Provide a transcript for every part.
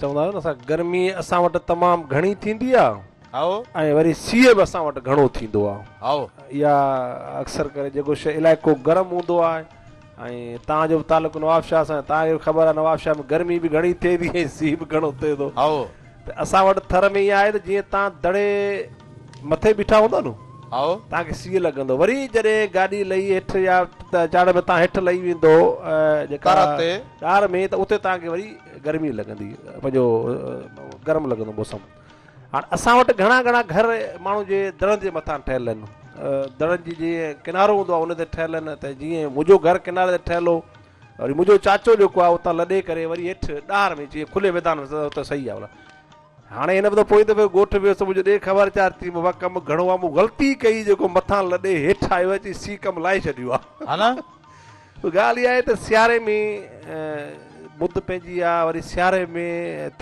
چوندا آهيو نه اسان گرمي اسان وٽ تمام گهڻي ٿيندي آ هائو ۽ وري سيء به اسان وٽ گهڻو ٿيندو آ هائو يا اڪثر ڪري جيڪو شي علائقو گرم هوندو آ ۽ تان جو به تعلق نواب شاهه سان تان کي خبر آ نواب شاهه ۾ گرمي به گهڻي ٿئي ٿي ۽ سيء به گهڻو ٿئي ٿو هائو ته اسان وٽ ٿر ۾ ائين آهي ته جيئن تان دڙي مٿي بيٺا هوندا نو توهان کي سيء لڳندو وري جڏهن گاڏي لهي هيٺ يا چاڙهه ۾ توهان هيٺ لهي ويندو جيڪا ٽار ۾ ته اتي توهان کي وري گرمي لڳندي پنهنجو گرم لڳندو موسم هاڻ اسان وٽ گهڻا گهڻا گهر ماڻهو جي دڙن جي مٿان ٺهيل آهن دڙن جي جي ڪنارو هوندو آهي ان تي ٺهيل آهن ته جيئن منهنجو گهر ڪناري تي ٺهيل هو وري منهنجو چاچو جيڪو آهي اتان لڏي ڪري وري هيٺ ڏاهر ۾ جيئن کلي ميدان ۾ ته صحيح آهي هاڻي هن به ته پوئين دفعي ڳوٺ ويس ته منهنجو ڏي خبر چار چي بابا ڪم گهڻو آ مون غلطي ڪئي جيڪو مٿان لڏي هيٺ آيو آهي چي سي ڪم لاهي ڇڏيو آ ها نه ڳالهه اها آهي ته سياري ۾ مد پنهنجي آ وري سياري ۾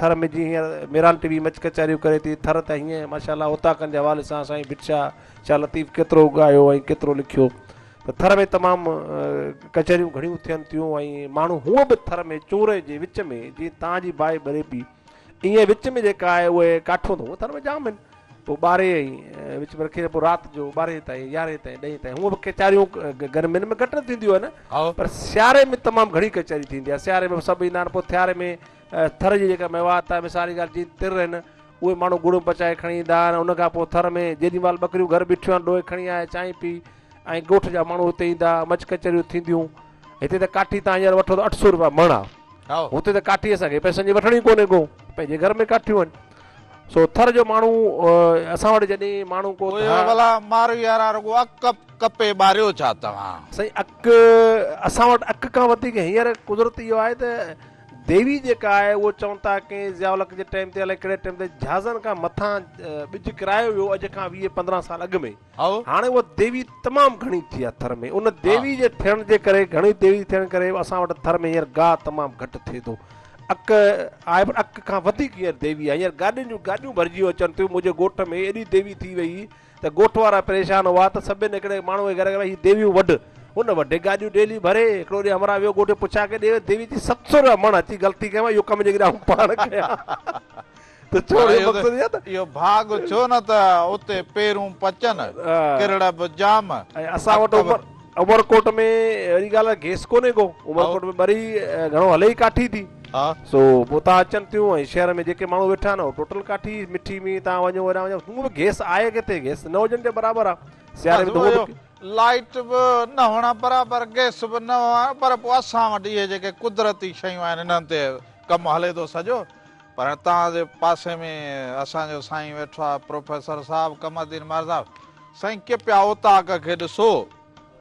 ٿر ۾ جي هينئر ميران ٽي وي مچ ڪچهريون ڪري ٿي ٿر ته هينئن ماشاءالله اوطاقن جي حوالي سان سائين ڀٽ شاهه شاهه لطيف ڪيترو ڳايو ۽ ڪيترو لکيو ته ٿر ۾ تمام ڪچهريون گهڻيون ٿين ٿيون ۽ ماڻهو هونئن به ٿر ۾ چورئي جي وچ ۾ جي تان جي باهه ٻري پي ائين وچ ۾ جيڪا آهي اهي ڪاٺون اٿن اهي ٿر ۾ جام آهن پوء ٻاري ۽ وچ ۾ رکي ته پوء رات جو ٻارهين تائين يارهين تائين ڏهين تائين هونء به ڪچهريون گرمين ۾ گهٽ نه ٿينديون آهن هائو. پر سياري ۾ تمام گهڻي ڪچهري ٿيندي آهي سياري ۾ سڀ ايندا آهن پوء ٿياري ۾ اه، ٿر جي جيڪا ميوات آهي مثال جي ڳالهه جيئن تر آهن اهي ماڻهو گڙ ۾ پچائي کڻي ايندا آهن ان کان پوء ٿر ۾ جيڏي مهل ٻڪريون گهر بيٺيون آهن ڏوهي کڻي آيا چانهه پي ۽ ڳوٺ جا ماڻهو هتي ايندا مچ ڪچهريون ٿينديون هتي ته ڪاٺي تان هينئر وٺو ته اٺ سو روپيا مڻ آ هتي ته ڪاٺي اسان کي پئسن جي وٺڻ ئي ڪونهي ڪو پنهنجي گهر ۾ ڪاٺيون آهن سو ٿر جو ماڻهو اسان وٽ جڏهن ماڻهو ڪو ڀلا مارو يارا رڳو اڪ ڪپي ٻاريو ڇا توهان سائين اڪ اسان وٽ اڪ کان وڌيڪ هينئر قدرت اهو آهي ته ديوي جيڪا آهي اهو چون ٿا ڪنهن ضياء الحق جي ٽائيم تي الائي ڪهڙي ٽائيم تي جهازن کان مٿان ٻج ڪرايو ويو اڄ کان ويهه پندرهن سال اڳ ۾ هاڻي اها ديوي تمام گهڻي ٿي آهي ٿر ۾، ان ديوي جي ٿيڻ جي ڪري، گهڻي ديوي ٿيڻ ڪري اسان وٽ ٿر ۾ هينئر گاهه تمام گهٽ ٿئي ٿو. اڪ آهي پر اڪ کان وڌيڪ هينئر ديوي آهي، هينئر گاڏين جون گاڏيون ڀرجيون اچن ٿيون، منهنجي ڳوٺ ۾ ايڏي ديوي ٿي وئي ته ڳوٺ وارا پريشان هئا ته سڀني هڪڙي ماڻهوء کي گهرايو ته ڀاء هي ديويون وڍ، هن وڍي گاڏيون ڊيلي ڀري، هڪڙو ڏينهن همراهه ويو ڳوٺ جو پڇا ڪيو ڏي ديوي چي ست سؤ رپيا مڻ اچي غلطي ڪيم اهو ڪم جيڪڏهن آئون پاڻ ڪيان. اهو ڀاڳ ڇو نه ته اتي پيرون پچن، ڪرڙ به ڄام. اسان وٽ عمرڪوٽ ۾ اهڙي ڳالهه گئس ڪونهي ڪو. عمرڪوٽ ۾ ٻري گهڻو هلي ئي ڪاٺي ٿي. سو پوء اتان اچن ٿيون ۽ شهر ۾ جيڪي ماڻهو ويٺا آهن اهي ٽوٽل ڪاٺي، مٺي مينهن تان وڃو هيڏانهن وڃو هونء به گئس آهي ڪٿي، گئس نه هجڻ جي برابر آهي. سياري ۾ ته لائيٽ به نه هئڻ برابر گئس به نه هئڻ پر پوء اسان وٽ اهي جيڪي قدرتي شيون آهن انهن تي ڪم هلي ٿو سڄو. پر اتان جي پاسي ۾ اسان جو سائين ويٺو آهي پروفيسر صاحب قمر الدين مهرداس. سائين ڪپيا اوطاق کي ڏسو.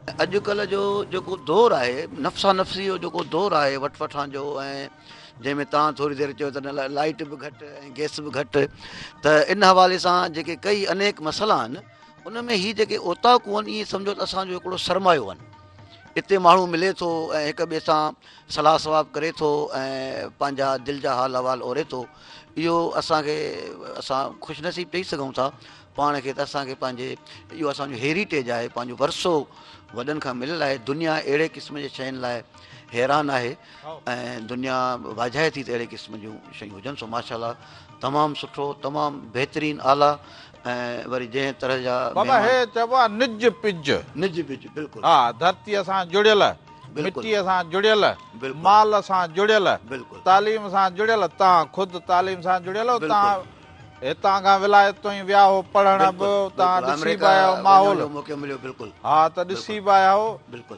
اڄڪلهه جو جيڪو دور آهي نفسا نفسي جو جيڪو دور آهي وٺ وٺان جو ۽ جنهن ۾ توهان ٿوري دير چيو ته لائيٽ به گهٽ ۽ گيس به گهٽ ته ان حوالي سان جيڪي ڪئي انيڪ مسئلا آهن ان ۾ هي جيڪي اوطاقون آهن ايئن سمجهو ته اسان جو هڪڙو سرمايو آهن. اتي ماڻهو ملي ٿو ۽ هڪ ٻئي سان صلاح صواب ڪري ٿو ۽ پنهنجا دل جا حال احوال اوري ٿو اهو اسان کي اسان خوش نصيب چئي سگهون ٿا پاڻ کي ته اسانکي پنهنجي اهو اسانجو هيريٽيج آهي پنهنجو ورثو وڏن کان مليل آهي دنيا اهڙي قسم جي شين لاء حيران آهي ۽ دنيا واجهائي ٿي ته اهڙي قسم جون شيون هجن سو ماشاء الله تمام سٺو تمام بهترين اعليٰ ۽ وري جنهن طرح جا بابا هي چئبو آهي نج پج نج پج بلڪل ها ڌرتي سان جڙيل مٽيء سان جڙيل، مال سان جڙيل، تعليم سان جڙيل، توهان خود تعليم سان جڙيل آهيو، توهان هتان کان ولايت تون ئي ويا هئو پڙهڻ به توهان ڏسي به آيا هئو ماحول، ها ته ڏسي به آيا هئو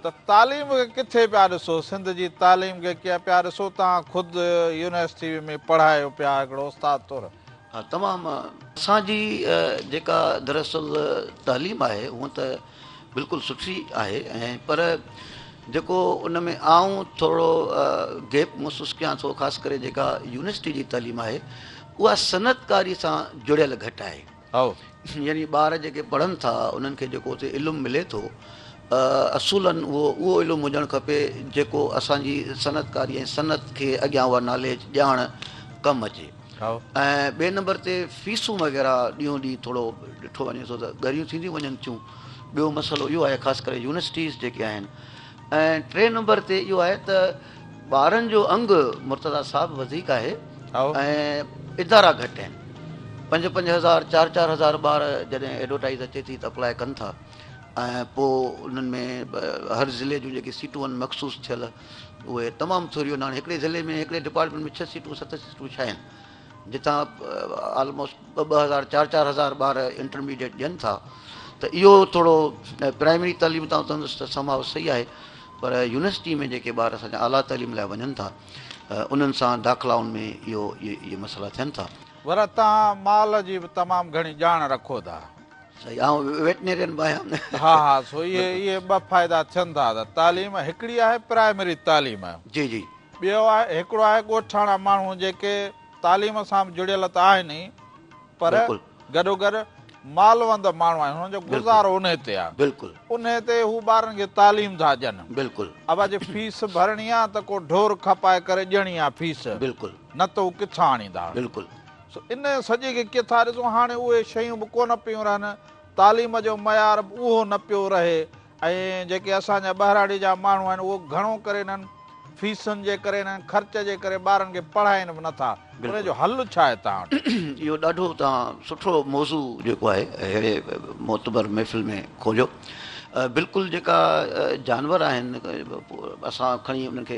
ته تعليم کي ڪٿي پيا ڏسو، سنڌ جي تعليم کي ڪيئن پيا ڏسو، توهان خود يونيورسٽي ۾ پڙهايو پيا هڪڙو استاد طور. ها تمام اسان جي جيڪا دراصل تعليم آهي هونئن ته بلڪل سٺي آهي ۽ پر جيڪو ان ۾ آئون ٿورڙو گيپ محسوس ڪيان ٿو خاص ڪري جيڪا يونيورسٽي جي تعليم آهي اها صنعت ڪاري سان جڙيل گهٽ آهي يعني ٻار جيڪي پڙهن ٿا انهن کي جيڪو اتي علم ملي ٿو اصولاً اهو اهو علم هجڻ کپي جيڪو اسان جي صنعت ڪاري ۽ صنعت کي اڳيان اها ناليج ڄاڻ ڪم اچي ۽ ٻئي نمبر تي فيسون وغيره ڏينهون ڏينهن ٿورو ڏٺو وڃي ٿو ته ڳريون ٿينديون وڃن ٿيون ٻيو مسئلو اهو آهي خاص ڪري يونيورسٽيز جيڪي آهن ۽ ٽي نمبر تي اهو آهي ته ٻارن جو انگ مرتضا صاحب وڌيڪ آهي ۽ ادارا گهٽ آهن پنج پنج هزار چار چار هزار ٻار جڏهن ايڊورٽائز اچي ٿي ته اپلاء ڪن ٿا ۽ پوء انهن ۾ هر ضلعي جون جيڪي سيٽون آهن مخصوص ٿيل اهي تمام ٿوريون ناڻي هڪڙي ضلعي ۾ هڪڙي ڊپارٽمينٽ ۾ ڇهه سيٽون ست سيٽون ڇا آهن جتان آلموسٽ ٻه ٻه هزار چار چار هزار ٻار انٽرميڊيٽ ڏين ٿا ته اهو ٿورو پرائمري تعليم تان تندس ته سماو صحيح آهي پر يونيورسٽي ۾ جيڪي ٻار اسان جا اعليٰ تعليم لاء وڃن ٿا انهن سان داخلائن ۾ اهو اهي مسئلا ٿين ٿا. ورته توهان مال جي به تمام گهڻي ڄاڻ رکو ٿا. صحيح آئون ويٽنيرين به آهيان نه. ها ها سو اهي اهي ٻه فائدا ٿين ٿا ته تعليم هڪڙي آهي پرائمري تعليم جي جي. ٻيو آهي هڪڙو آهي ڳوٺاڻا ماڻهو جيڪي تعليم سان به جڙيل ته آهن ئي پر بلڪل. گڏو گڏ مالوند ماڻهو آهن هنن جو گذارو انهي تي آهي بلڪل. انهي تي هو ٻارن کي تعليم ٿا ڏين بلڪل. اب اڄ فيس ڀرڻي آهي ته ڪو ڍور کپائي ڪري ڏيڻي آهي فيس بلڪل. نه ته هو ڪٿان آڻيندا. بلڪل. سو ان سڄي کي ڪٿا ڏسون هاڻي اهي شيون به ڪونه پيون رهن تعليم جو معيار به اهو نه پيو رهي ۽ جيڪي اسان جا ٻهراڙي جا ماڻهو آهن اهو گهڻو ڪري انهن فيسن جي ڪري انهن خرچ جي ڪري ٻارن کي پڙهائين به نٿا ان جو حل ڇا آهي توهان وٽ. اهو ڏاڍو توهان سٺو موضوع جيڪو آهي اهڙي معتبر محفل ۾ کوليو بلڪل جيڪا جانور آهن اسان کڻي انهن کي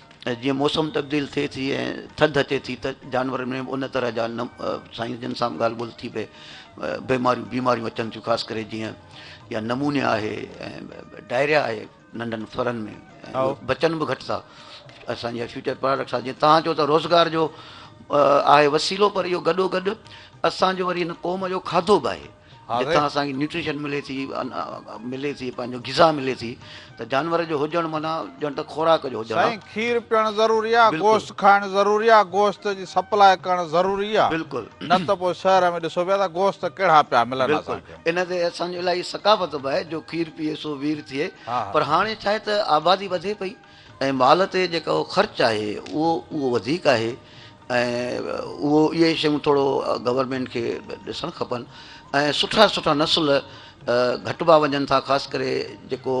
جيئن موسم تبديل ٿئي ٿي ۽ ٿڌ اچي ٿي ته جانورن ۾ به ان طرح جا سائين جن سان ڳالهه ٻولهه ٿي پئي بيماريون بيماريون اچن ٿيون خاص ڪري جيئن يا نمونيا آهي ۽ ڊائريا آهي ننڍن ڦرن ۾ بچن به گهٽ ٿا اسان جي فيوچر پراڊڪٽس آهي جيئن تان چو ته روزگار جو آهي وسيلو پر اهو گڏو گڏ اسانجو وري هن قوم جو کاڌو به آهي جتان اسان کي نيوٽريشن ملي ٿي ملي ٿي پنهنجو غذا ملي ٿي ته جانور جو هجڻ معنيٰ ڄڻ ته خوراڪ جو هجڻ آهي. سائين کير پيئڻ ضروري آهي گوشت کائڻ ضروري آهي گوشت جي سپلاء ڪرڻ ضروري آهي بلڪل نه ته پوء شهر ۾ ڏسو پيا ته گوشت ڪهڙا پيا ملن بلڪل ان تي اسان جو الاهي ثقافت به آهي جو کير پيئي سو وير ٿئي پر هاڻي ڇا آهي ته آبادي وڌي پئي ۽ مال تي جيڪو خرچ آهي اهو اهو وڌيڪ آهي ۽ اهو اهي شيون ٿورو گورنمينٽ کي ڏسڻ کپن ۽ سٺا سٺا نسل گهٽبا وڃن ٿا خاص ڪري جيڪو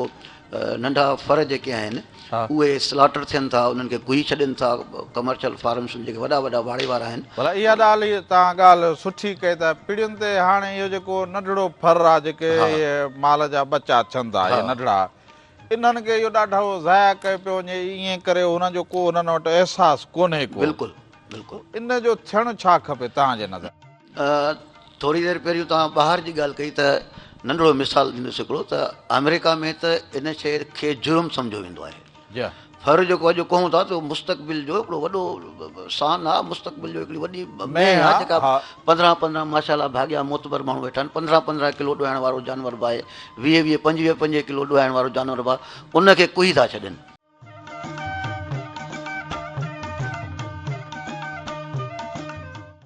ننڍا ڦر جيڪي آهن اهي سلاٽر ٿين ٿا انهن کي ڪهي ڇڏين ٿا ڪمرشل فارمس جيڪي وڏا وڏا واڙي وارا آهن ڀلا اها ڏالهي تان ڳالهه سٺي ڪئي ته پڙين تي هاڻي اهو جيڪو ننڍڙو ڦر آهي جيڪي مال جا ٻچا ٿين ٿا اهي ننڍڙا انهن کي اهو ڏاڍو ضايع ڪيو پيو وڃي ائين ڪري هنن جو ڪو هنن وٽ احساس ڪونهي ڪو. بلڪل بلڪل. ان جو ٿيڻ ڇا کپي توهان جي نظر. ٿوري دير پهريون توهان ٻاهر جي ڳالهه ڪئي ته ننڍڙو مثال ڏيندس هڪڙو ته آمريڪا ۾ ته ان شيء کي جرم سمجهيو ويندو آهي. ڦر جيڪو اڄ ڪهون ٿا ته مستقبل جو هڪڙو وڏو سان آهي مستقبل جو هڪڙي وڏي مينهن آهي جيڪا پندرهن پندرهن ماشاءالله ڀاڳيا معتبر ماڻهو ويٺا آهن پندرهن پندرهن ڪلو ڏوهائڻ وارو جانور به آهي ويهه ويهه پنجويهه پنجويهه ڪلو ڏوهائڻ وارو جانور به آهي ان کي ڪهي ٿا ڇڏين